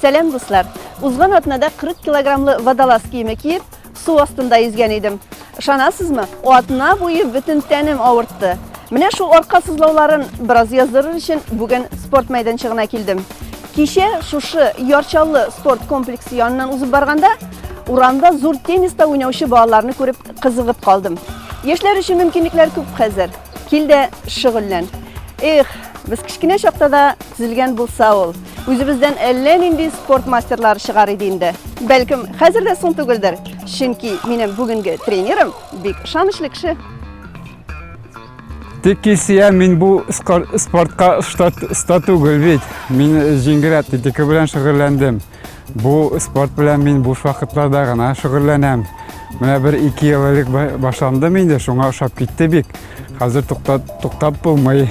Сәлам, дуслар! Узган атнада 40 килограммлы водолаз киеме киеп, су астында йөзгән идем. Ышанасызмы? Атна буе бөтен тәнем авыртты. Менә шул арка сызлауларын бераз яздырыр өчен бүген спорт мәйданчыгына килдем. Кичә шушы Ярчаллы спорт комплексы янынан узып барганда, урамда зур тенниста уйнаучы балаларны күреп кызыгып калдым. Яшьләр өчен мөмкинлекләр күп хәзер. Кил дә шөгыльлән. Эх, без кечкенә чакта да төзелгән булса ул, үзебездән әллә нинди спорт мастерлары чыгар иде инде. Бәлкем, хәзер дә соң түгелдер, чөнки минем бүгенге тренерым бик ышанычлы кеше. Тик кисия мин бу спортка оста түгел бит. Мин җиңгерәп тетика белән шөгыльләндем. Бу спорт белән мин буш вакытларда гына шөгыльләнәм. Менә бер ике ел элек башландым инде, шуңа ошап китте бик. Хәзер туктап, туктап булмый.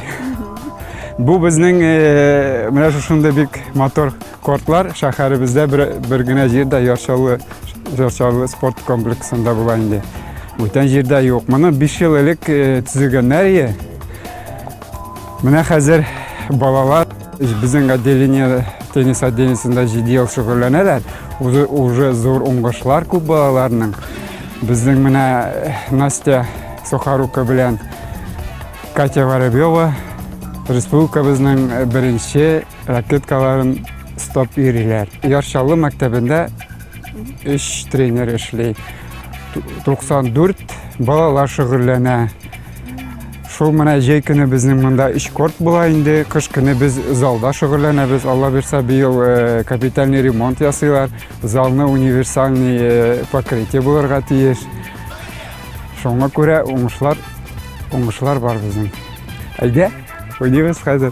Бу безнең э, менә шушындый бик мотор кортлар шәһәребездә бер, бер генә җирдә ярчалы, ярчалы спорт комплексында була инде. Бүтән җирдә юк. Моны 5 ел элек э, төзегәннәр ие. Менә хәзер балалар Безнең отделение теннис отделениесендә җиде ел шөгыльләнәләр. Үзе уже зур уңышлар күп балаларның. Безнең менә э, Настя Сухарука белән Катя Воробьева республикабызның э, беренче ракеткаларын стоп йөриләр. Яршалы мәктәбендә өч тренер эшли. 94 балалар шөгыльләнә. Шул менә җәй көне безнең монда өч корт була инде. Кыш көне без залда шөгыльләнәбез. Алла бирса, быел э, капитальный ремонт ясыйлар. Залны универсальный э, покрытие булырга тиеш. Шуңа күрә уңышлар, уңышлар бар безнең. Әйдә, уйныйбыз хәзер.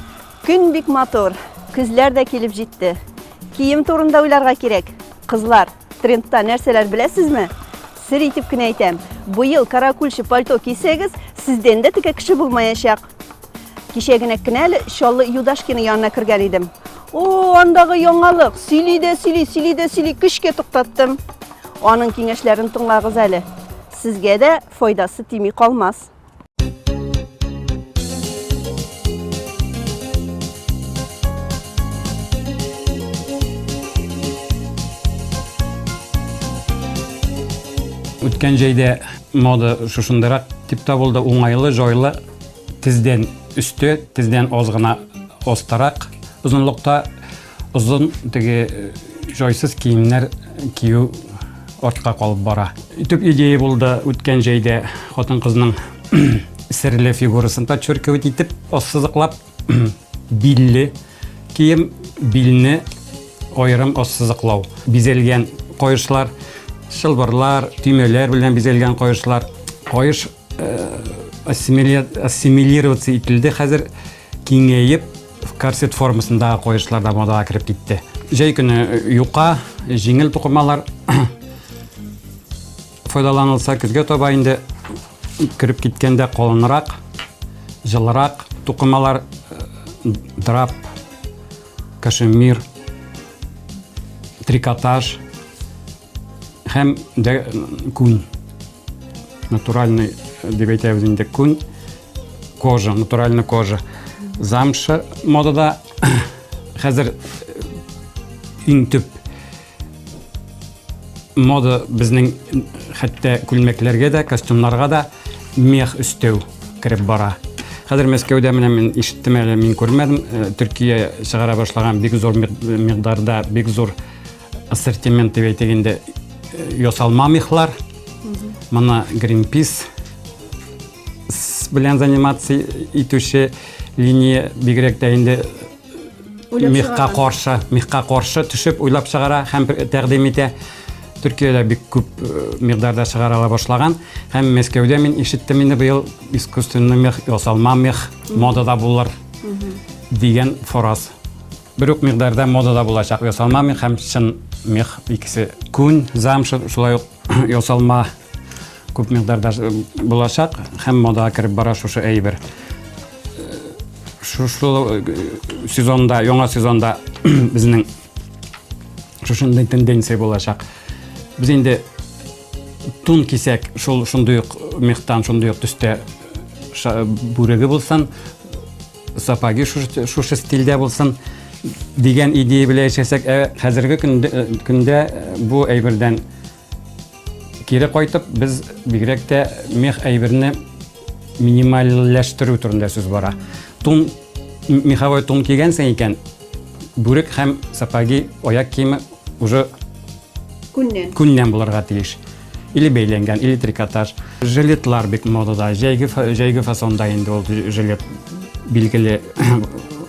Көн бик матур, көзләр дә килеп җитте. Кием турында уйларга кирәк. Кызлар, трендта нәрсәләр беләсезме? Сер итеп кенә әйтәм, быел каракульчы пальто кисәгез, сездән дә текә кеше булмаячак. Кичә генә кенә әле Чаллы Юдашкина янына кергән идем. О, андагы яңалык, сөйли дә сөйли, сөйли дә сөйли, көчкә туктаттым. Аның киңәшләрен тыңлагыз әле. Сезгә дә файдасы тими калмас. Үткән җәйдә мода шушындырак дип табылды, уңайлы, җайлы, тездән өсте, тездән аз гына остарак озынлыкта Озын теге җайсыз киемнәр кию артка калып бара. Төп идея булды үткән җәйдә хатын-кызның серле фигурасын подчеркивать итеп, ассызыклап билле кием, билне аерым ассызыклау. Бизәлгән каешлар, чылбырлар, төймәләр белән бизәлгән каешлар. Каеш э, ассимилироваться ителде хәзер киңәеп Корсет формасындагы коешлар да модага кереп китте. Җәй көне юка, җиңел тукымалар файдаланылса, көзгә таба инде кереп киткәндә калынрак, җылырак тукымалар драп, кашемир, трикотаж һәм дә күн Натуральный, дип әйтәбез инде, күн, кожа, натуральный кожа. Замша модада хәзер иң төп мода безнең хәтта күлмәкләргә дә, костюмнарга да мех өстәү кереп бара. Хәзер Мәскәүдә менә мин ишеттем әле, мин күрмәдем, Төркия чыгара башлаган бик зур мигдарда, бик зур Ассортимент дип әйтик инде ясалма мехлар. Моны Greenpeace белән заниматься итүче линия бигрәк тә инде мехка каршы, мехка каршы төшеп уйлап чыгара һәм тәкъдим итә. Төркиядә бик күп э, мигдарда чыгарала башлаган һәм Мәскәүдә мин ишеттем инде быел искусственный мех, ясалма мех модада булыр дигән фораз Бер үк микъдарда модада булачак ясалма мех һәм чын мех икесе. Күн, замша, шулай ук ясалма күп микъдарда булачак һәм модага кереп бара шушы әйбер. Шушы сезонда, яңа сезонда безнең шушындый тенденция булачак. Без инде тун кисәк, шул шундый ук мехтан, шундый ук төстә бүреге булсын, сапаги шушы стильдә булсын дигән идея белән яшәсәк, ә хәзерге көндә бу әйбердән кире кайтып, без бигрәк тә мех әйберне минимальләштерү турында сүз бара. Тун меховой тун кигәнсең икән, бүрек һәм сапаги аяк киеме уже күннән күннән булырга тиеш. или бәйләнгән, или трикотаж. Жилетлар бик модада, җәйге, җәйге фасонда инде ул жилет билгеле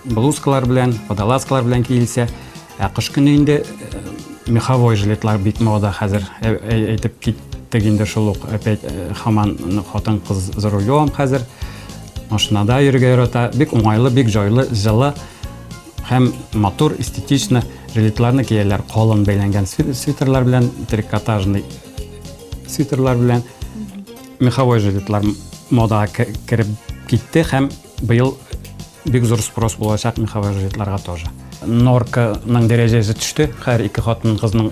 блузкалар белән, водолазкалар белән киелсә. Ә кыш көне инде э, меховой жилетлар бик мода хәзер. Э, э, әйтеп киттек инде шул ук опять хаман хатын кыз за рулем хәзер. Машинада йөрергә ярата. Бик уңайлы, бик җайлы, җылы. Һәм матур, эстетично жилетларны кияләр, калын бәйләнгән свитерлар белән, трикотажный свитерлар белән. Меховой жилетлар мода кереп китте һәм быел бик зур спрос булачак меховой жилетларга тоже. Норканың дәрәҗәсе төште, һәр ике хатын кызның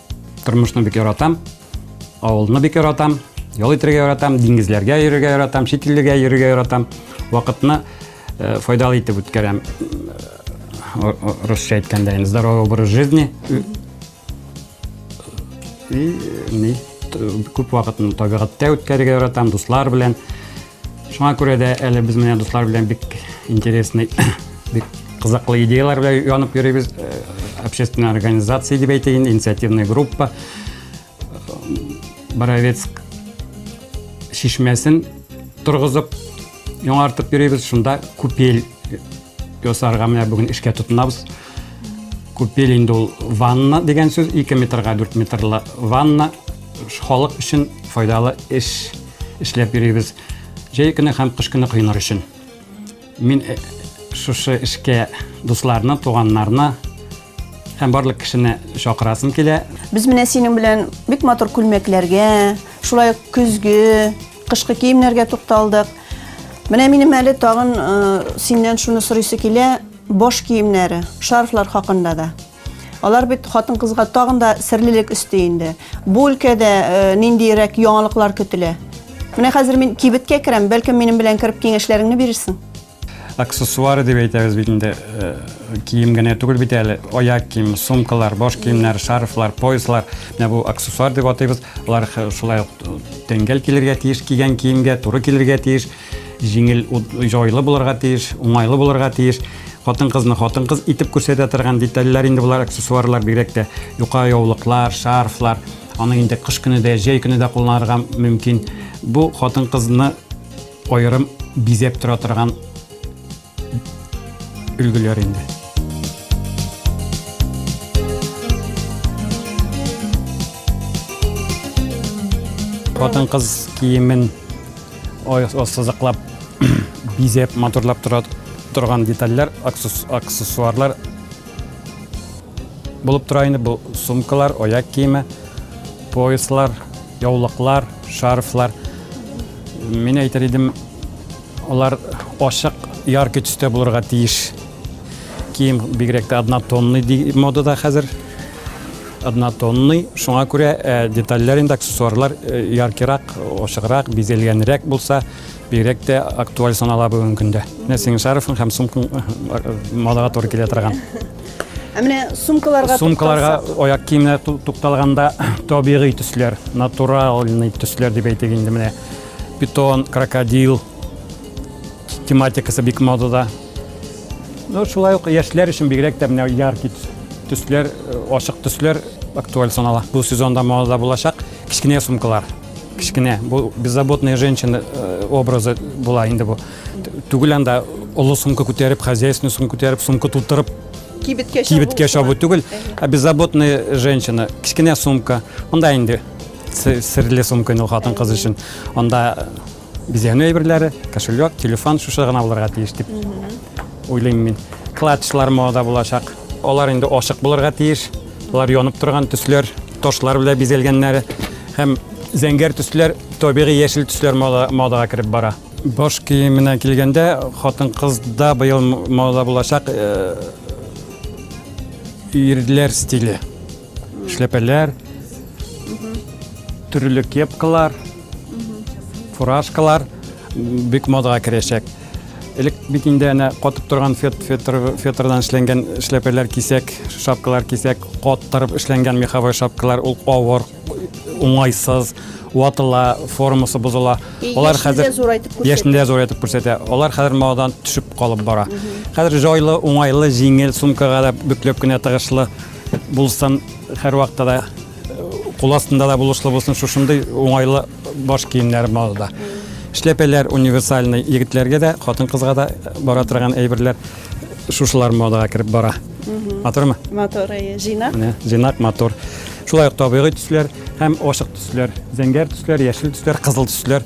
Тормышны бик яратам, авылны бик яратам, ял итергә яратам, диңгезләргә йөрергә яратам, чит илләргә йөрергә яратам. Вакытны э, файдалы итеп үткәрәм. Э, русча әйткәндә, здоровый образ жизни. И, ни, күп вакытны табигатьтә үткәрергә яратам, дуслар белән. Шуңа күрә дә әле без менә дуслар белән бик интересный, бик кызыклы идеялар белән янып йөрибез. Э, общественная организация дип әйтәйен, инициативная группа. Боровецк шишмәсен торгызып, яңартып йөрибез. Шунда купель ясарга менә бүген эшкә тотынабыз. Купель инде ул ванна дигән сүз 2 метрга 4 метрлы ванна халык өчен файдалы эш эшләп йөрибез. Җәй көне һәм кыш көне коеныр өчен. Мин э, шушы эшкә дусларны, туганнарны һәм барлык кешене чакырасым килә. Без менә синең белән бик матур күлмәкләргә, шулай ук көзге, кышкы киемнәргә тукталдык. Менә минем әле тагын э, синнән шуны сорыйсы килә. Баш киемнәре, шарфлар хакында да. Алар бит хатын-кызга тагын да серлелек өсти инде. Бу өлкәдә ниндиерәк яңалыклар көтелә? Менә хәзер мин кибеткә керәм, бәлкем минем белән кереп киңәшләреңне бирерсең? аксессуары дип әйтәбез бит инде э, кием генә түгел бит әле аяк кием сумкалар баш киемнәр шарфлар пояслар менә бу аксессуар дип атыйбыз алар шулай ук тәңгәл килергә тиеш кигән киемгә туры килергә тиеш Җиңел, җайлы булырга тиеш, уңайлы булырга тиеш. Хатын-кызны хатын-кыз итеп күрсәтә торган детальләр инде болар аксессуарлар бигрәк тә юка яулыклар, шарфлар. Аны инде кыш көне дә, җәй көне дә кулланырга мөмкин. Бу хатын-кызны аерым бизәп тора торган өлгеләр инде. Хатын-кыз киемен сызыклап, бизәп, матурлап тора торган детальләр, аксессуарлар булып тора инде. Бу сумкалар, аяк киеме, пояслар, яулыклар, шарфлар. Мин әйтер идем, Алар ашык, яркий төстә булырга тиеш. Кием бигрәк тә однотонный ди модада хәзер. Однотонный, шуңа күрә э, детальләр инде аксессуарлар э, яркирак, ашыграк, бизәлгәнрәк булса, бигрәк тә актуаль санала бүгенге көндә. Менә синең шарфың һәм сумкаң э, модага туры килә торган. Ә менә сумкаларга сумкаларга аяк киемнәр тукталганда табигый төсләр, натуральный төсләр дип әйтик инде менә. питон, крокодил тематикасы бик модада. Ну, шулай ук яшьләр өчен бигрәк тә менә яркий төсләр, э, ачык төсләр актуаль санала. Бу сезонда модада булачак кечкенә сумкалар. Кечкенә, бу беззаботная женщина э, образы була инде бу. Түгел анда олы сумка күтәреп, хозяйственный сумка күтәреп, сумка тутырып кибеткә чабу түгел, ә беззаботная женщина, кечкенә сумка. Монда инде Серле сумка ул хатын кыз өчен. Анда бизәнү әйберләре, кошелек, телефон шушы гына булырга тиеш дип уйлыйм мин. Клатчлар мода булачак. Алар инде ашык булырга тиеш. Алар янып торган төсләр, ташлар белән бизәлгәннәре һәм зәңгәр төсләр, табигый яшел төсләр модага кереп бара. Баш киеменә килгәндә, хатын-кызда быел мода булачак э, ирләр стиле. Эшләпәләр, төрле кепкалар, фуражкалар бик модага керәчәк. Элек бит инде әнә катып торган фетрдан эшләнгән эшләпәләр кисәк, шапкалар кисәк, каттырып эшләнгән меховой шапкалар ул авыр, уңайсыз, ватыла, формасы бозыла. Алар хәзер яшендә зур итеп күрсәтә. Алар хәзер модадан төшеп калып бара. Хәзер җайлы, уңайлы, җиңел сумкага да бөкләп кенә тыгышлы Булсын һәрвакытта да кул астында да булышлы булсын шушындый уңайлы баш киемнәр малда. Эшләпәләр универсальный егетләргә дә, хатын-кызга да бара торган әйберләр шушылар модага кереп бара. Матурмы? Матур, әйе, җыйнак. Менә җыйнак матур. Шулай ук табигый төсләр һәм ачык төсләр, зәңгәр төсләр, яшел төсләр, кызыл төсләр.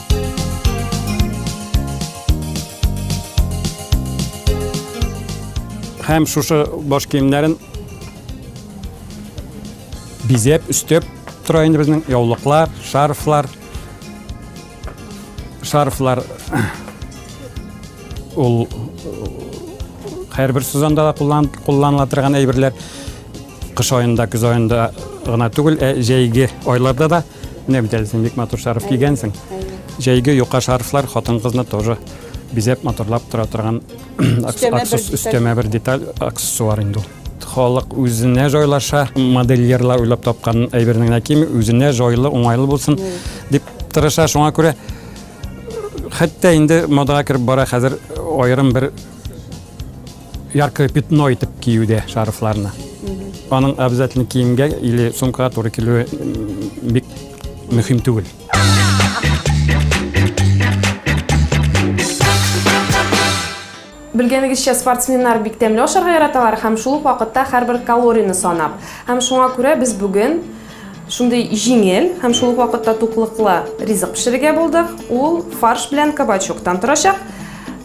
Һәм шушы баш киемнәрен бизәп, өстәп тора инде безнең яулыклар, шарфлар. Шарфлар ул һәрбер сезонда да кулланыла торган әйберләр. Кыш аенда, көз аенда гына түгел, ә җәйге айларда да Менә бит әле син бик матур шарф кигәнсең. Җәйге юка шарфлар хатын-кызны тоже бизәп матурлап тора торган өстәмә бер деталь аксессуар инде ул. Халык үзенә җайлаша, модельерлар уйлап тапкан әйбернең генә кими, үзенә җайлы, уңайлы булсын дип тырыша. Шуңа күрә хәтта инде модага кереп бара хәзер аерым бер яркое пятно итеп киюдә шарфларны. Аның обязательно киемгә или сумкага туры килүе бик мөһим түгел. Белгәнегезчә, спортсменнар бик тәмле ашарга яраталар һәм шул ук вакытта һәрбер калорияне санап. Һәм шуңа күрә без бүген Шундый җиңел һәм шул ук вакытта туклыклы ризык пешерергә булдык. Ул фарш белән кабачоктан торачак.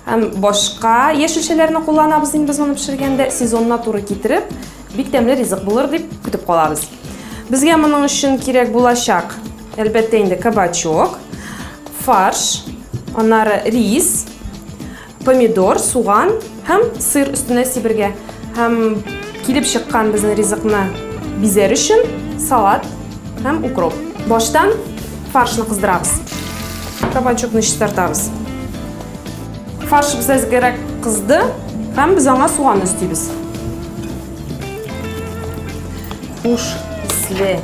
Һәм башка яшелчәләрне кулланабыз инде без моны пешергәндә. Сезонына туры китереп, бик тәмле ризык булыр дип көтеп калабыз. Безгә моның өчен кирәк булачак, әлбәттә инде, кабачок, фарш, аннары рис, Помидор, суган һәм сыр өстенә сибергә һәм килеп чыккан безнең ризыкны бизәр өчен салат һәм укроп. Баштан фаршны кыздырабыз. Кабачокны чистартабыз. Фарш без әзгерәк кызды һәм без аңа суган өстибез. Хуш исле.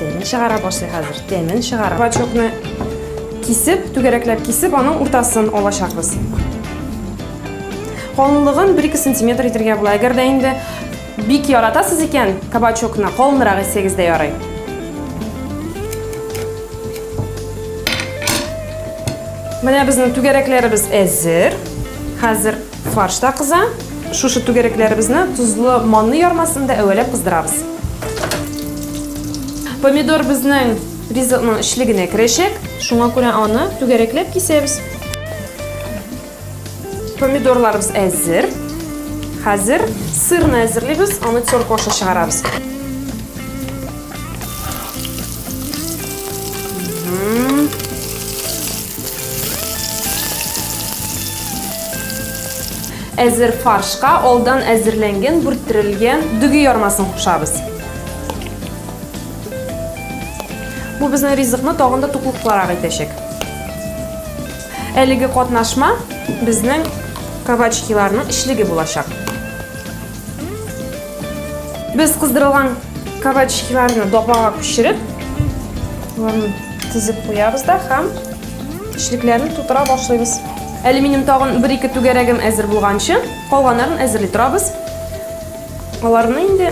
Тәмен чыгара башлый хәзер. Тәмен чыгара. Бачокны кисеп, түгәрәкләп кисеп, аның уртасын алачакбыз. Калынлыгын 1-2 сантиметр итергә була. Әгәр дә инде бик яратасыз икән, кабачокны калынрак итсәгез дә ярый. Менә безнең түгәрәкләребез әзер. Хәзер Фарш та кыза. Шушы түгәрәкләребезне тозлы манны ярмасында әвәләп кыздырабыз. Помидор безнең ризыкның эчлегенә керәчәк. Шуңа күрә аны түгәрәкләп кисәбез. Помидорларыбыз әзер. Хәзер сырны әзерлибез, аны терка аша чыгарабыз. Әзер фаршка алдан әзерләнгән бүрттерелгән дөге ярмасын кушабыз. Бу безнең ризыкны тагын да туклыклырак итәчәк. Әлеге катнашма безнең кабачкиларның эчлеге булачак. Без кыздырылган кабачкиларны дапага күчереп, уларны тезеп куябыз да һәм Эчлекләрне тутыра башлыйбыз. Алюминием тагын бер-ике түгәрәгем әзер булганчы, калганнарын әзерли торабыз. Аларны инде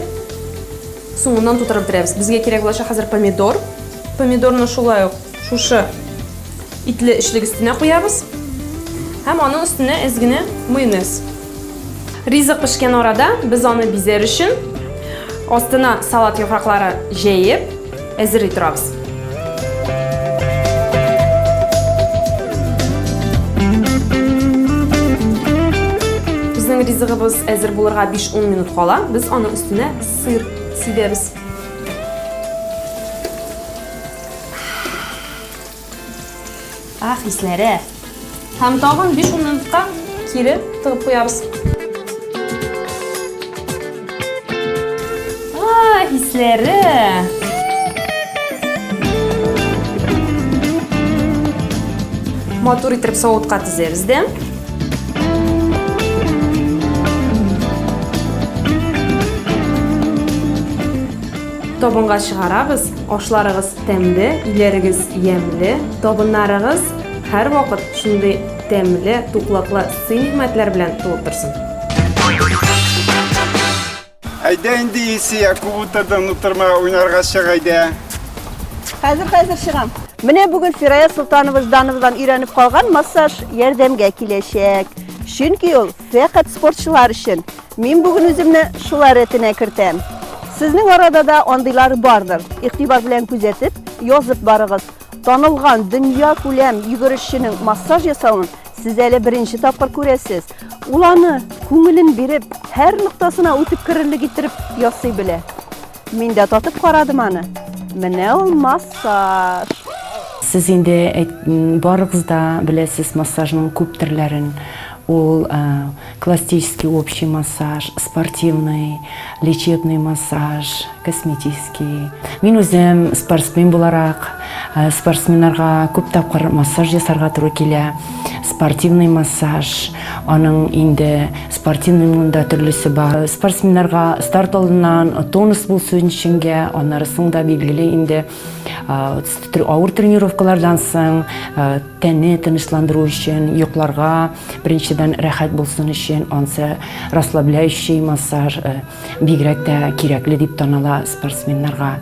соңыннан тутырып бетерәбез. Безгә кирәк булачак хәзер помидор. Помидорны шулай ук шушы итле эчлек өстенә куябыз. Һәм аның өстенә әз генә майонез. Ризык пешкән арада без аны бизәр өчен астына салат яфраклары җәеп әзерли торабыз. Безнең ризыгыбыз әзер булырга 5-10 минут кала, без аның өстенә сыр сибәбез. Ах, исләре! Һәм тагын 5 минутка кире тыгып куябыз. Ах, исләре! матур итеп савытка тезәбез дә. Табынга чыгарабыз, ашларыгыз Тәмле, иләрегез ямьле, табыннарыгыз һәр вакыт шундый тәмле, туклыклы сый-нигъмәтләр белән тулып торсын. Әйдә инде Исия, күп утырдың, утырма, уйнарга чык әйдә. Хәзер хәзер чыгам. Менә бүген Фирая Солтанова Ждановадан өйрәнеп калган массаж ярдәмгә киләчәк. Чөнки ул Фәкать спортчылар өчен. Мин бүген үземне шулар рәтенә кертәм. Сезнең арада да андыйлар бардыр. Игътибар белән күзәтеп, язып барыгыз. Танылган дөнья күләм йөгерешченең массаж ясавын сез әле беренче тапкыр күрәсез. Ул аны күңелен биреп, һәр ноктасына үтеп керерлек иттереп ясый белә. Мин дә татып карадым аны. Менә ул массаж. Сез инде барыгыз да беләсез массажның күп төрләрен. Ул классический общий массаж, спортивный, лечебный массаж, косметический. Мин үзем спортсмен буларак, спортсменнарга күп тапкыр массаж ясарга туры килә. Спортивный массаж, аның инде Спортивный мында төрлесе бар. Спортсменнарга старт алдыннан тонус булсын өченгә, аннары соң да билгеле инде авыр тренировкалардан соң тәне тынычландыру өчен, йокларга беренчедән рәхәт булсын өчен ансы расслабляющий массаж бигрәк тә кирәкле дип таныла спортсменнарга.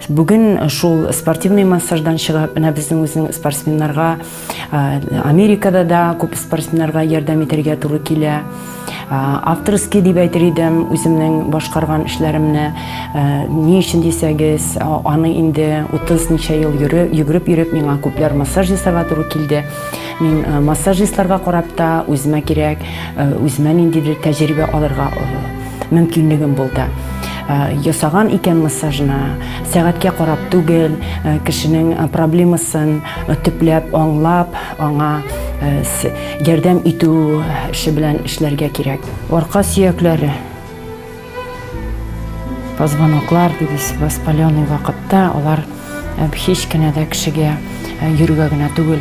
Бүген шул спортивный массаждан чыгып, менә безнең үзенең спортсменнарга Америкада да күп спортсменнарга ярдәм итәргә туры килә. Авторский дип әйтер идем үземнең башкарган эшләремне. Ни өчен дисәгез, аны инде 30 ничә ел йөгереп йөреп миңа күпләр массаж ясарга туры килде. Мин массажистларга карап та үземә кирәк, үземә ниндидер тәҗрибә алырга мөмкинлегем булды. Ясаган икән массажны, сәгатькә карап түгел, кешенең проблемасын, төпләп аңлап, аңа ярдәм итү эше белән эшләргә кирәк. Арка сөякләре позвоноклар дибез, воспаленный вакытта алар һич кенә дә кешегә йөргә генә түгел,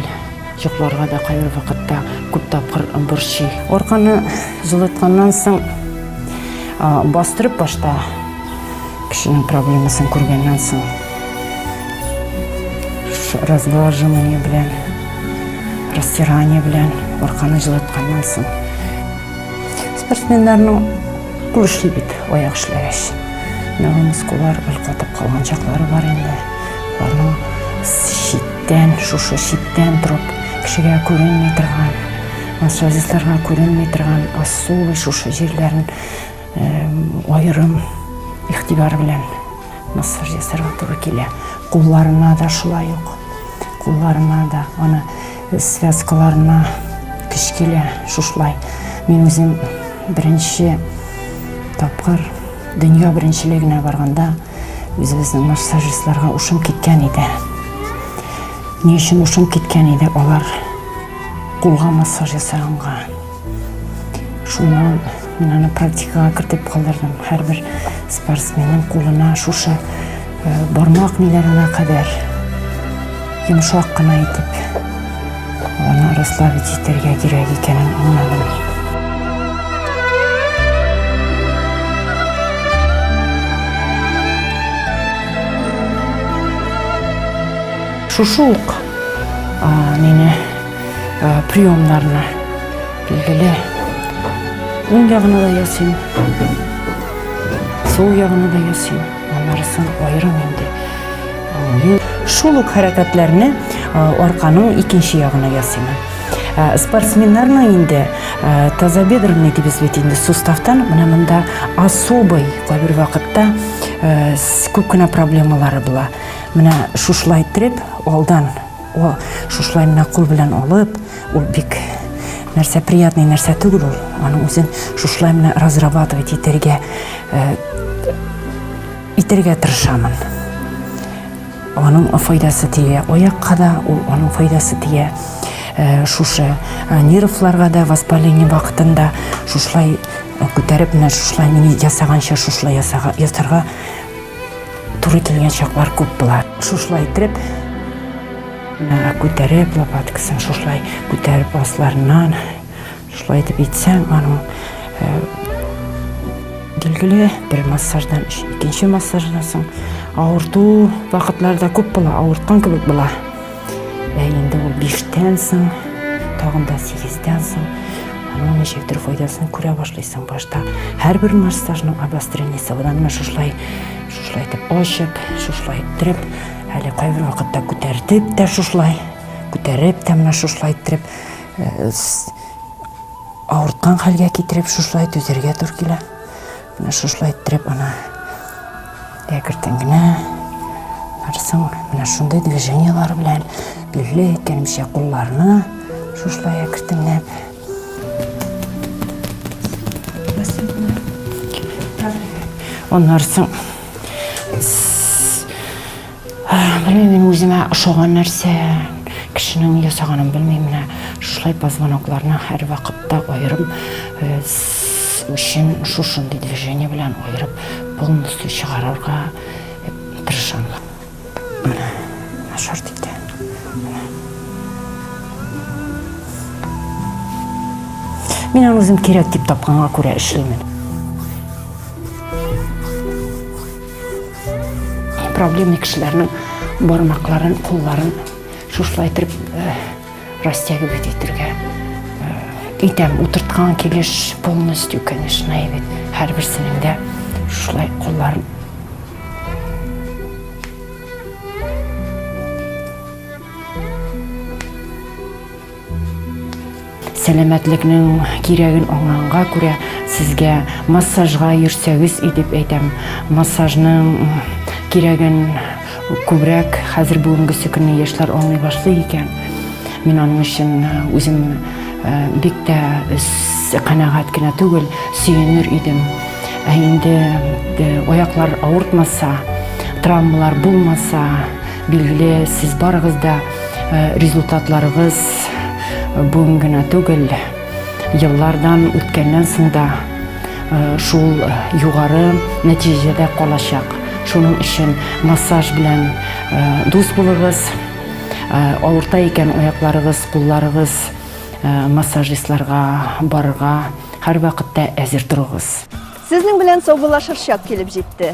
йокларга да кайбер вакытта күп тапкыр борчый. Арканы җылытканнан соң бастырып башта кешенең проблемасын күргәннән соң Разглаживание белән, растирание белән арканы җылытканнан соң. Спортсменнарның кул эшли бит, аяк эшләгәч. Менә бу мускуллар өлкәтеп калган чаклары бар инде. Аларның читтән, шушы читтән торып, кешегә күренми торган, массажистларга күренми торган асулы шушы җирләрен э, аерым игътибар белән Массаж ясарга туры килә. Кулларына да шулай ук. Кулларына да аны связкаларына көч килә шушлай. Мин үзем беренче тапкыр дөнья беренчелегенә барганда үзебезнең массажистларга ушым киткән иде. Ни өчен ушым киткән иде алар кулга массаж ясаганга? Шуны мин аны практикага кертеп калдырдым. Һәрбер спортсменның кулына шушы э, бармак миләренә кадәр йомшак кына итеп аны расслабить итәргә кирәк икәнен аңладым. Шушы ук а, мине приемнарына билгеле уң ягына да ясыйм сул ягына да ясыйм анарысын аерым инде шул ук хәрәкәтләрне арканың икенче ягына ясыйм спортсменнарның инде тазобедренный дибез бит инде суставтан менә монда особый кайбер вакытта күп кенә проблемалары була менә шушылай иттереп алдан О, шушылай менә кул белән алып, ул бик нәрсә приятный нәрсә түгел ул. Аның үзен шушылай менә разрабатывать итәргә э, итәргә тырышамын. Аның файдасы тия аякка да, ул аның файдасы тия э, шушы э, нервларга да воспаление вакытында шушылай күтәреп менә шушылай мин ясаганча шушылай ясарга Тур ителгән чаклар күп була. Шушылай итеп, мына күтәреп лопаткасын шушылай күтәреп асларыннан шулай итеп итсәң, аның э, билгеле бер массаждан икенче массаждан соң авырту вакытларда күп була, авырткан кебек була. Ә инде ул биштән соң, тагын да сигездән соң аның ничектер файдасын күрә башлыйсың башта. Һәрбер массажның обострениесе одан менә шушылай, шушылай итеп ачып, шушылай иттереп, әле кайбер вакытта күтәртеп тә шушылай, күтәреп тә менә шушылай иттереп, э, авырткан хәлгә китереп шушылай түзәргә туры килә. Менә шушылай иттереп ана әкертен генә барсаң, менә шундый движенияләр белән лүле әйткәнемчә кулларны шушылай әкертенләп Аннары соң Белмим, үземә ошаган нәрсә кешенең ясаганын белмим, менә шулай позвонокларны һәрвакытта аерым өчен шушындый движение белән аерып полностью чыгарырга тырышам. Менә начар китә. Менә. Мин аны үзем кирәк дип тапканга күрә эшлимен. проблемный кешеләрнең бармакларын, кулларын шушылай итеп э, растягивать итәргә итәм. Э, Утырткан килеш полностью, конечно, егет. Һәрберсенең дә шушылай кулларын Сәламәтлекнең кирәген аңланга күрә, сезгә массажга йөрсәгез и дип әйтәм. Массажның кирәген күбрәк хәзер бүгенгесе көнне яшьләр аңлый башлый икән. Мин аның өчен үзем бик тә канәгать кенә түгел, сөенер идем. Ә инде аяклар авыртмаса, травмалар булмаса, Билгеле, сез барыгыз да результатларыгыз бүген генә түгел, еллардан үткәннән соң да шул югары нәтиҗәдә калачак. Шуның өчен массаж белән дус булыгыз. Авырта икән аякларыгыз, кулларыгыз массажистларга барырга һәрвакытта әзер торыгыз. Сезнең белән саубуллашыр чак килеп җитте.